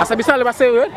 Asa bisale basewe.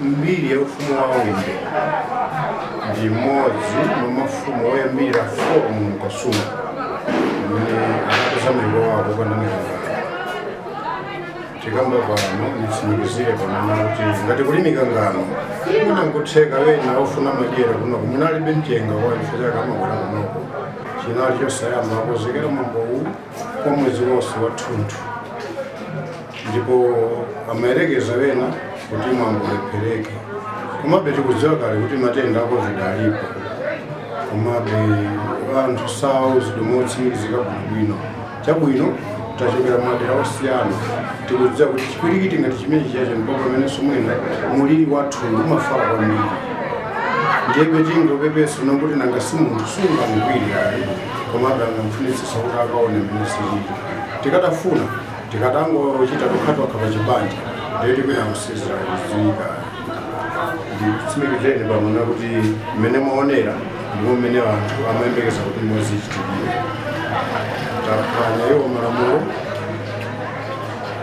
mbiri ya ufumu wa Wimbe ndi mmodzi mwa mafumu oyambirira kuno mu Kasungu amene anapeza malo wawo popanda mikangano tikambe pano nditsimikizire pano kuti ngati kuli mikangano mwina nkutheka wena ofuna madyera kunoko mwina alibe mchenga waufele chakale amabwera kunoko chinali chosayamba kukonzekera mwambowu kwa mwezi wonse wathunthu ndipo amayerekeza wena kuti mwambo ulephereke komabe tikudziwa kale kuti matenda a covid alipo komabe anthu sauzidwe motsimikizika bwinobwino Chabwino, tachokera madera osiyana tikudziwa kuti chipwirikiti ngati chimene chiyacho ndipo pamenenso mwina muliri wathu umafala kwambiri ndiyebe tingopepesa kuti nanga si munthu sungamugwire ali komabe angamfunitsisa kuti akaone mmene zilili tikatafuna tikatangochita tokhatokha pa chibanja ndiye tikwina kusizira kuziyika nditsimikizeni pano kuti mmene mwaonera ndipo mmene anthu amayembekeza kuti mozichitikira akuphwanya iwo malamulo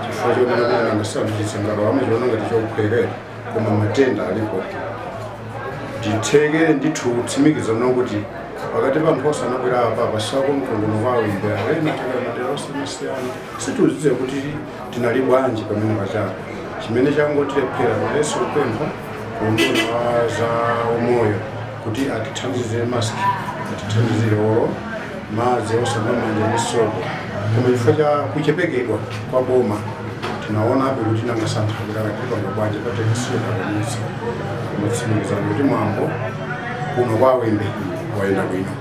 chifukwa choti kuti anthu sandichitse ngati wamuchiona ngati chophwekera koma matenda alipo titheke ndithu kutsimikiza kuti pakati pa anthu osonkhana apa pasako mkhongono kwawo imbera ena madera osiyanasiyana sitikudziwa kuti tinali bwanji pamene tachapa chimene changotilephera komanso kupempha kuunduna wa za umoyo kuti atithandizire mask atithandizire olo madzi osamba m'manja ndi sopo koma chifukwa cha kuchepekedwa kwa boma tinaonabe kuti tinangasankha kuti akatipanga bwanji patekisiyotakanisa koma nditsimikize kuti mwambo kuno kwa Wimbe wayenda bwino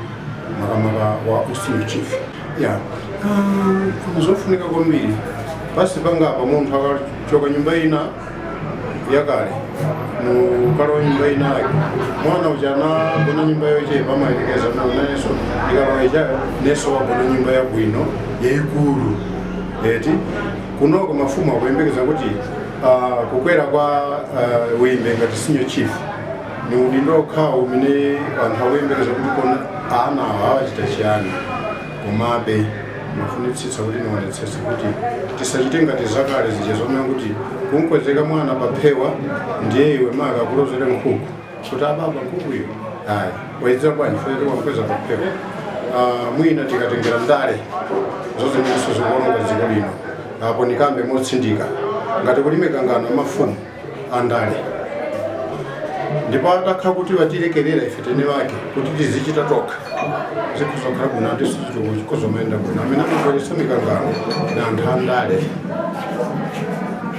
makamaka wa usenior chief ya ah, zofunika kwambiri basi pansi pangapa munthu akachoka nyumba ina yakale nkukalowa nyumba inayo mwana uja anagona nyumba yochepa amayerekeza nanenso ikalowa ichayo nanenso wagona nyumba yabwino yayikulu eti kunoko mafumu akuyembekeza kuti ah, kukwera kwa ah, Wimbe ngati senior chief ni udindo okhawo umene anthu akuyembekeza kuti kodi ana awa achita chiyani komabe ndimafunitsitsa kuti niwonetsese kuti tisachite ngati zakale zija zomwe kuti kumkweza mwana paphewa ndiye iwe nkumakulozera nkhuku kuti ababa nkhukuyo ayi wayionera bwanji pele wamkweza paphewa Ah, mwina tikatengera ndale ndizimenenso zikuononga dziko lino apo nikambe motsindika ngati kuli mikangano ya mafumu andale ndipo atakhala kuti watilekerera ife eni ake kuti tizichita tokha zikuzakhala bwino ati sizituku chikhuzomayenda bwino amene amabweretsa mikangano na anthu andale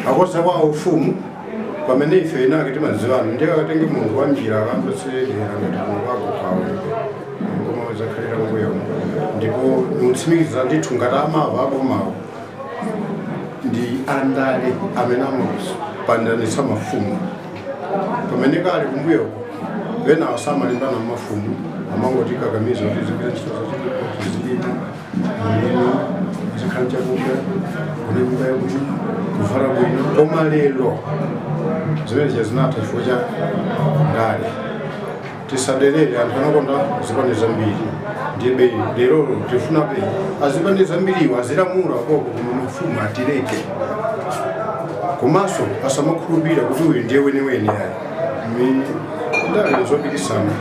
akoza kwa ufumu pamene ife inake timadziwana ndiye akatenge munthu wa njira akambasiredi angati munthu wako kwaoneke koma zakhalira mbuyo ndipo nikutsimikiza ndithu ngati amava abomawo ndi andale amene amapandanitsa mafumu pamene kale kumbuyoko sankalimbana mafumu amangotikakamiza kuti tizigwira ntchito zachitukuko tizilima mulimi tizikhala ndi chakudya kulimba yakuti kuvala bwino koma lero zimenezo zinatha chifukwa cha ndale tisadelere anthu anakonda zipani zambiri ndiye bwerani tifunabe azipani zambiriwo azilamula koko koma mafumu atileke komanso asamakhulupirira kuti uyu ndiye weniweni ayi mmene ndale nzopikisana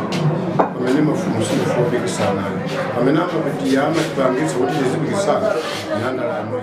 pamene mafumu sitifuna kupikisana amene amatipangitsa kuti tizipikisana ndi andale amenewo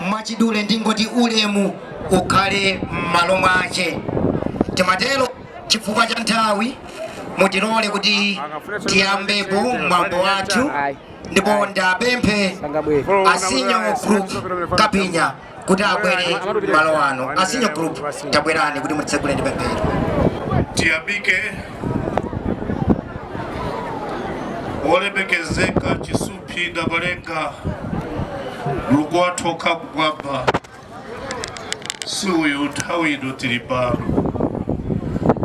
mwachidule ndingoti ulemu ukhale m'malo mwace timatero chifukwa cha nthawi mutilole kuti tiyambepo mwambo wathu ndipo ndipemphe a senior group kapinya kuti abwere malo anu a senior group tabwerani kuti mutitsegulire ndi pemphero tiyamike wolemekezeka chisumphi namalenga mulungu wathu wokhala kumwamba zikomo nthawi ino tili pano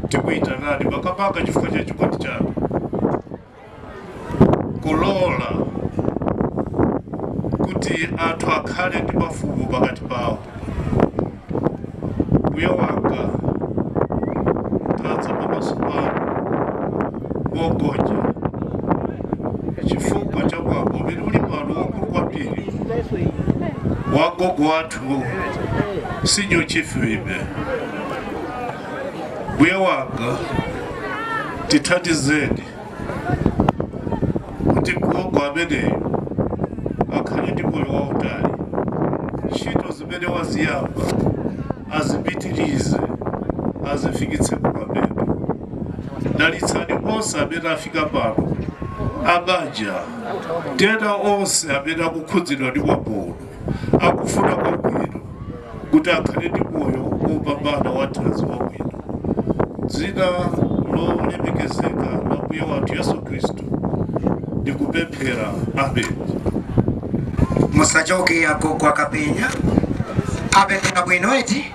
tikuyitanani makamaka chifukwa cha chikondi chanu kulola kuti anthu akhale ndi mafumu pakati pawo. Mbuye wanga, tadza pamaso panu mogonja chifukwa cha mwambo umene uli pano waukulu kwambiri wa gogo wathu Senior Chief Wimbe. mbuye wanga tithandizeni kuti gogo ameneyo akhale ndi moyo wautali ntchito zimene waziyamba azipitirize azifikitse kumapeto dalitsani onse amene afika pano abanja kaya onse amene akukhudzidwa ndi mwambo uno akufuna kwabwino kuti akhale ndi moyo wopambana wathanzi wabwino. Dzina lolemekezeka la Ambuye wathu Yesu Khristu ndikupemphera. Amen. Musachoke agogo Akapinya. Apemphera bwino eti?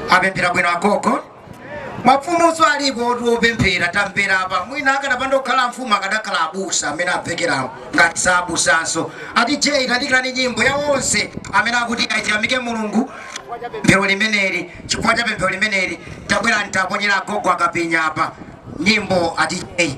Apemphera bwino agogo? mafumunso alipo oti opemphera tamverani apa mwina akadapanda kukhala mfumu akadakhala abusa amene amvekerawo ngati za abusanso ati je tandikireni nyimbo ya onse amene akuti ayamike mulungu pemphero limeneli chifukwa cha pemphero limeneli tabwera ntaponyera agogo akapinya apa nyimbo ati je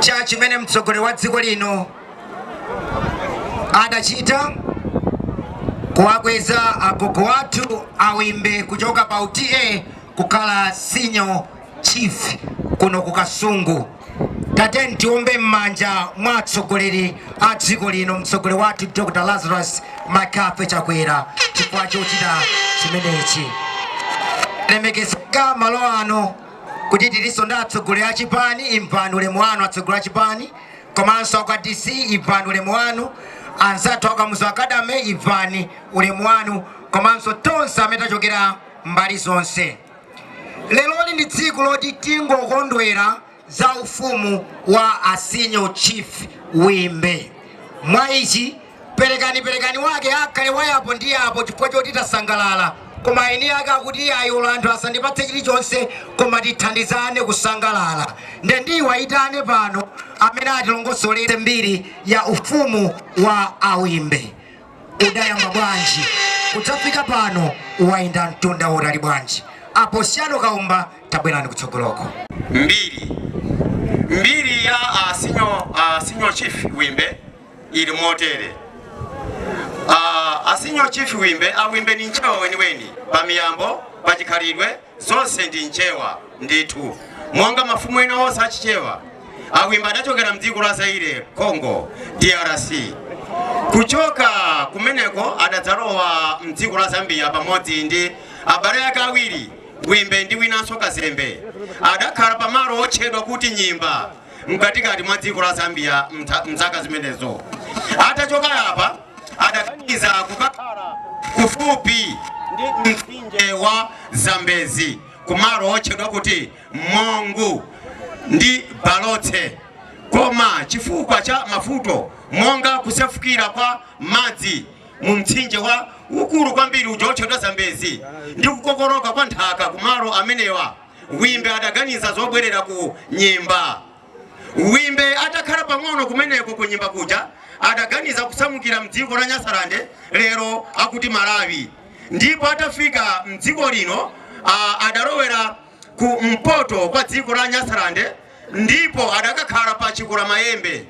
cha chimene mtsogoleri wa dziko lino adachita kuwakweza agogo athu awimbe kuchoka pa u TA kukhala senior chief kuno ku kasungu tateni tiombe m'manja mwa atsogoleri a dziko lino mtsogoleri wathu dr lazarus McCarthy chakwera chifukwa chochita chimenechi lemekezeka malo anu kuti tilinso ndi atsogoleri a chipani, imvani ulemu wanu atsogoleri a chipani, komanso akwa DC imvani ulemu wanu, anzathu a Kamuzu Academy imvani ulemu wanu, komanso tonse amene tachokera mbali zonse. Lerolino ndi tsiku loti tingokondwera za ufumu wa a senior chief Wimbe. Mwa ichi Perekani perekani wake akhale wa yapo ndi yapo chifukwa choti tasangalala. Koma eni ake akuti iyayi olo anthu asandipatse chilichonse koma tithandizane kusangalala. Nde ndiwayitane pano amene atilongosolere mbiri ya ufumu wa a Wimbe. Udayamba bwanji kudzafika pano? Wayenda mtunda wautali bwanji? A Posiyano Kaumba tabwerani kutsogoloko. Mbiri ya a Senior Chief Wimbe ili motere Ah, a Senior Chief wimbe awimbe ndi Mchewa weniweni pa miyambo pa chikhalidwe zonse ndi Mchewa ndithu monga mafumu ena onse achichewa awimba adachokera mdziko la zaire congo drc kuchoka kumeneko adadzalowa mdziko la zambia pamodzi ndi abale ake awiri wimbe ndi winanso kazembe adakhala pamalo otchedwa kuti nyimba mkatikati mwa dziko la Zambia mtha- mzaka zimenezo. Atachoka apa adaganiza kukakhala kufupi ndi mtsinje wa Zambezi kumalo otchedwa kuti Mongu ndi Balotse. Koma chifukwa cha mavuto monga kusefukira kwa madzi mu mtsinje waukulu kwambiri uja otchedwa Zambezi ndi kukokoloka kwa nthaka kumalo amenewa Wimbe adaganiza zobwerera ku Nyimba. Wimbe atakhala pang'ono kumeneko ku Nyimba kuja adaganiza kusamukira mdziko la Nyasalande lero akuti Malawi, ndipo atafika mdziko lino ah, adalowera ku mpoto kwa dziko la Nyasalande ndipo adakakhala pa Chikulamayembe.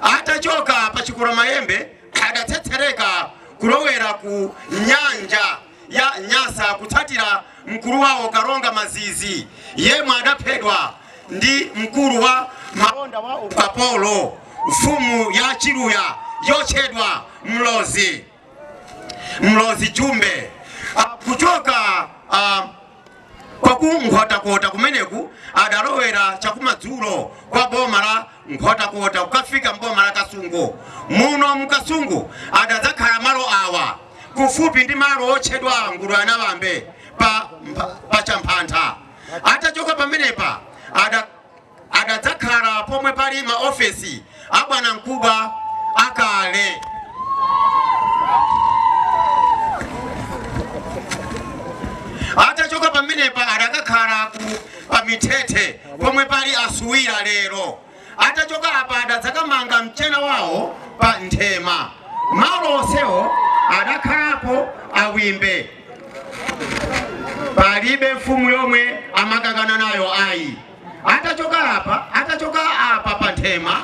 Atachoka pa Chikulamayembe adatsetsereka kulowera ku nyanja. ya Nyasa kutsatira mkulu wawo Kalonga Mazizi yemwe adaphedwa ndi mkulu wa malonda wa ukapolo mfumu ya Chiluya yotchedwa Mlozi Mlozi Jumbe kuchoka uh, Kwa ku Nkhotakota kumeneku adalowera chakumadzulo kwa boma la Nkhotakota kukafika m'boma la Kasungu. Muno mu Kasungu adadzakhala malo awa kufupi ndi malo otchedwa Nguluyanawambe pa, pa Champhantha. Atachoka pamenepa ada adadzakhala pomwe pali maofesi a bwanamkubwa akale atachoka pamenepa adakakhala ku pamithethe pomwe pali a Suwira lero atachoka apa adadzakamanga mchena wawo pa Nthema malo onsewo adakhalapo a Wimbe palibe mfumu yomwe amakangana nayo ayi atachoka apa atachoka apa pa Nthema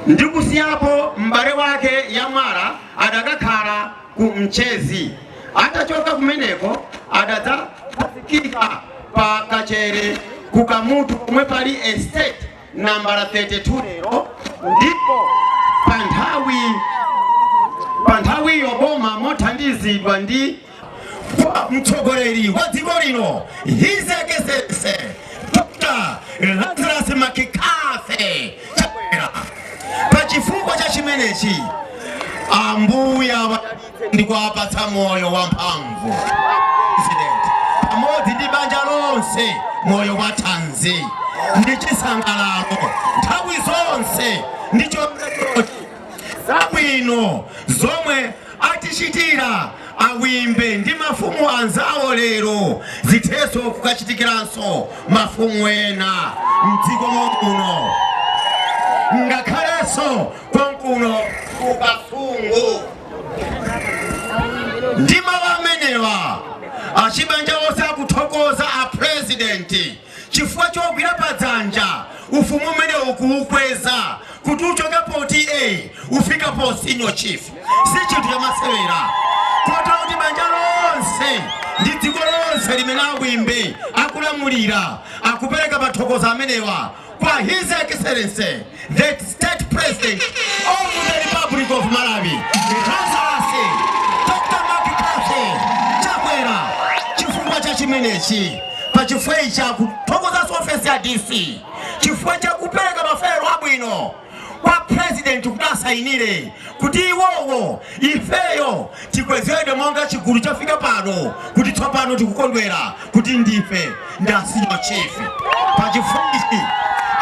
ndi kusiyapo m'bale wake Yamwala adakakhala ku Mchezi atachoka kumeneko adadzafika pa Kachere ku Kamutu pomwe pali estate nambala 32 lero ndipo pa nthawi pa nthawiyo boma mothandizidwa ndi kwa mtsogoleri wa dziko lino His Excellency Dr. Lazarus McCarthy Chakwera. Pa chifukwa cha chimenechi Ambuye wa- ndi kuwapatsa moyo wamphamvu President, pamodzi ndi banja lonse moyo wa thanzi ndi chisangalalo nthawi zonse ndi chomwechi zabwino zomwe atichitira a Wimbe ndi mafumu anzawo lero zithenso kukachitikiranso mafumu ena mdziko momuno ngakhalenso konkuno ku Kasungu. Ndi mawu amenewa achibanja onse akuthokoza a President chifukwa chogwira padzanja ufumu umenewu kuukweza kuti uchoke pa TA ufike pa senior chief si chinthu chamasewera kotero kuti banja lonse ndi dziko lonse limene a Bwimbi akulamulira akupereka mathokozo amenewa kwa his excellency The State President of the Republic of Malawi, Lazarus Dr. McCarthy Chakwera, chifukwa cha chimenechi pa chifukwa ichi akuthokozanso ofesi ya DC chifukwa cha kupereka mafaelo abwino kwa president kuti asayinire kuti iwowo ifeyo Tikwezedwe monga chigulu chafika pano kuti tsopano tikukondwera kuti ndife asenior chief pa chifukwa ichi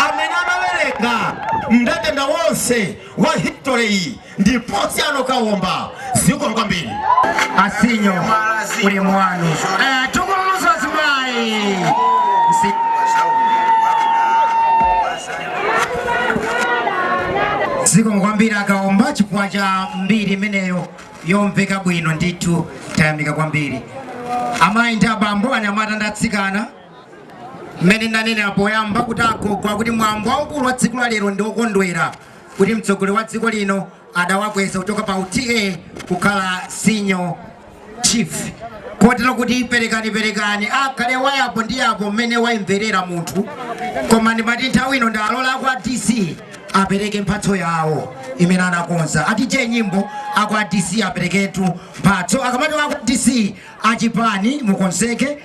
amene amawerenga mndandanda wonse wa history iyi ndi Posiano Kawomba zikomo kwambiri asinyo uli mwanu eh, tukuluza zimayi Msi- zikomo kwambiri akaomba chifukwa cha mbiri imeneyo yomveka bwino ndithu tayamika kwambiri amayi ndi abambo anyamata ndi atsikana mmene ndanenera poyamba kuti agogowa akuti mwambo waukulu wa tsiku la lero ndi wokondwera kuti mtsogoleri wa dziko lino adawakweza kuchoka pa u TA kukhala senior chief kotero kuti perekani perekani akhale wa apo ndi apo mmene wayimberera munthu koma ndimati nthawi ino ndialole akwa dc apereke mphatso yawo imene anakonza ati che nyimbo akwa dc apereketu mphatso akamati akwa dc achipani mukonzeke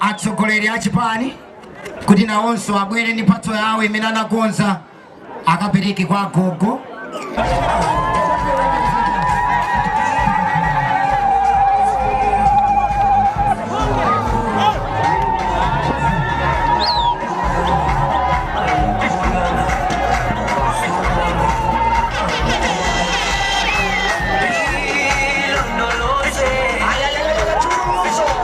atsogoleri a chipani kuti nawonso abwere ndi mphatso yawo imene anakonza akapereke kwa agogo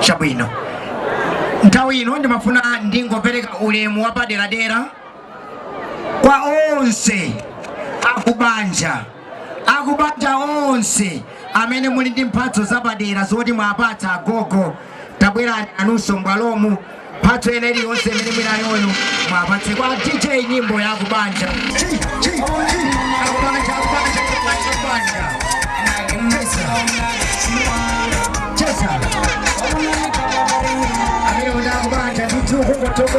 chabwino nthawi ino ndimafuna ndingopereka ulemu wapaderadera kwa onse akubanja akubanja onse amene muli ndi mphatso zapadera zoti muwapatse agogo tabwerani nanunso m'bwalomu mphatso ina iliyonse imene muli nayoyo muwapatse kwa dj nyimbo ya kubanja Chi, chi, chi. Akubanja, akubanja, akubanja, akubanja. Cheza. Amene muli akubanja ndithu kungotoko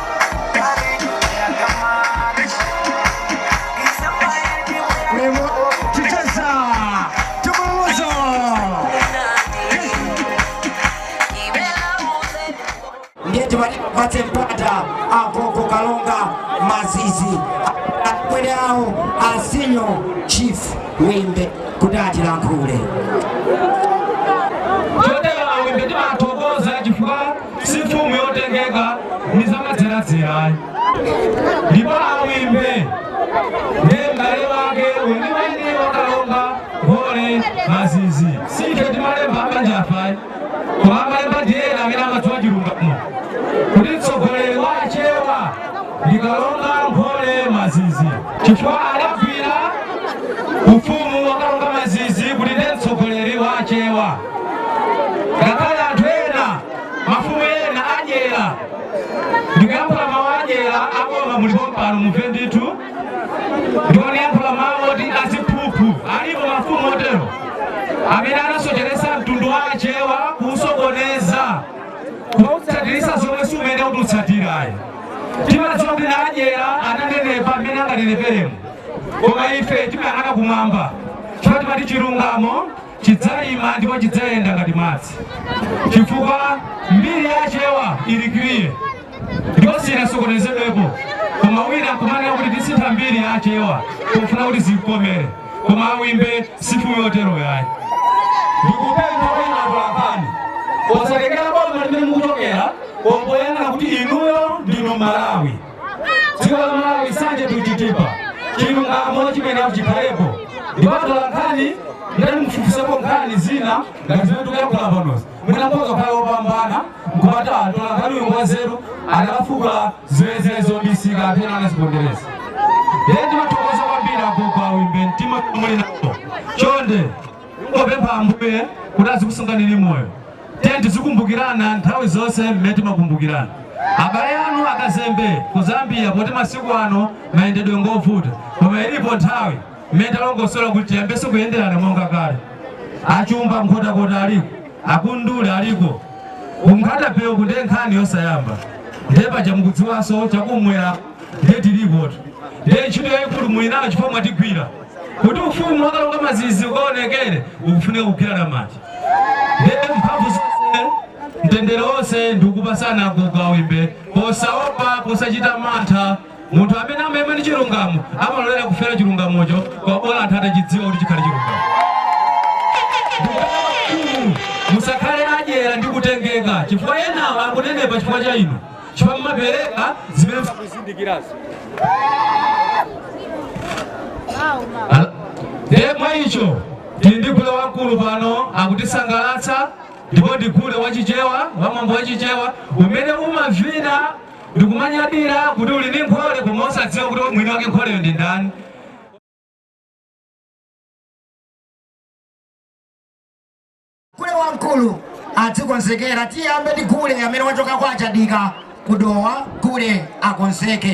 ndiye timati tipatse mpata agogo kalonga mazizi akulu awo asinyo chief wimbe kuti atilankhule chotero awimbe timathokoza chifukwa si mfumu yotengeka ndi zamadzeradzera ayi ndipo awimbe ndi m'bale wake weniweni wakalonga ngole mazizi si ife timalemba mabanja afe ayi koma amalemba ndi ena amene amadziwa chilungamo kuti mtsogoleri wa achewa ndi kalonga ngole mazizi chifukwa adagwira ufumu wakalonga mazizi kuti ndi mtsogoleri wa achewa ngakhale anthu ena mafumu ena a dyera ndikuyankhula mawu a dyera aboma muli pompano mumve ndithu ndikuyankhula mawu oti aziphuphu alipo mafumu otero amene anasocheresa mtundu wa achewa kuusokoneza kuutsatiritsa zomwe si zimene zoti utsatire ayi timadziwa kuti ndi adyera ananenepa mmene anganeneperemo koma ife timayang'ana kumwamba chifukwa timati chilungamo chidzaima ndipo chidzayenda ngati madzi chifukwa mbiri ya achewa ili kiliya ndipo sinasokonezedwepo koma wina nkumanena kuti tisintha mbiri ya achewa pofuna kuti zikukomere koma awimbe si mfumu yotero ayi ndikupempha inu atolankhani posatengera boma limene mukuchokera koma poyang'ana kuti inuyo ndinu mmalawi dziko la malawi sanje tichitepo chilungamo chimenecho chikhalepo ndipo atolankhani nanu mufufuzepo nkhani zina ngati zimene tikuyankhula panozi mwina mukhoza kukhala opambana nkumati mtolankhani uyu ngwanzeru anakafukula zimene zili zobisika kapena anazipondereza lero timathokoza kwambiri agogo awimbe mtima muli nawo chonde Ndingopempha Ambuye kuti azikusunganini moyo. Tiye tizikumbukirana nthawi zonse mmene timakumbukirana. Abale anu akazembe ku Zambia poti masiku ano mayendedwe ngovuta. Koma ilipo nthawi mmene talongosola kuti tiyambenso kuyenderana monga kale. Achumba Nkhotakota aliko, akundule aliko. Ku Nkhata Bay uku ndi nkhani yosayamba. Ndiye paja mukudziwanso chakumwera ndiye tilikotu. Ndiye ntchito yayikulu muli nayo chifukwa mwatigwira. Kuti ufumu wa Kalonga Mazizi ukaonekere ukufunika kugwirana manja ndiye mphamvu zonse mtendere wonse ndiye upatsane kukawimba posaopa posachita mantha munthu amene amayima ndi chilungamo amalolera kufera chilungamocho kaya bola anthu atachidziwa kuti chikhale chilungamo ndikupempha mafumu musakhale adyera ndi kutengeka chifukwa enawo akunenepa chifukwa cha inu chifukwa mumapereka zimene mukuzindikirazo Al- ndiye mwa icho tili ndi gule wamkulu pano akutisangalatsa ndipo ndi gule wachichewa wamwambo wachichewa umene umavina ndikumanyadira kuti uli ndi nkhole koma osadziwa kuti mwini wake nkholeyo ndi ndani Gule wamkulu adzikonzekera. Tiyambe ndi gule amene wachoka kwa a Chadika ku Dowa. Gule akonzeke.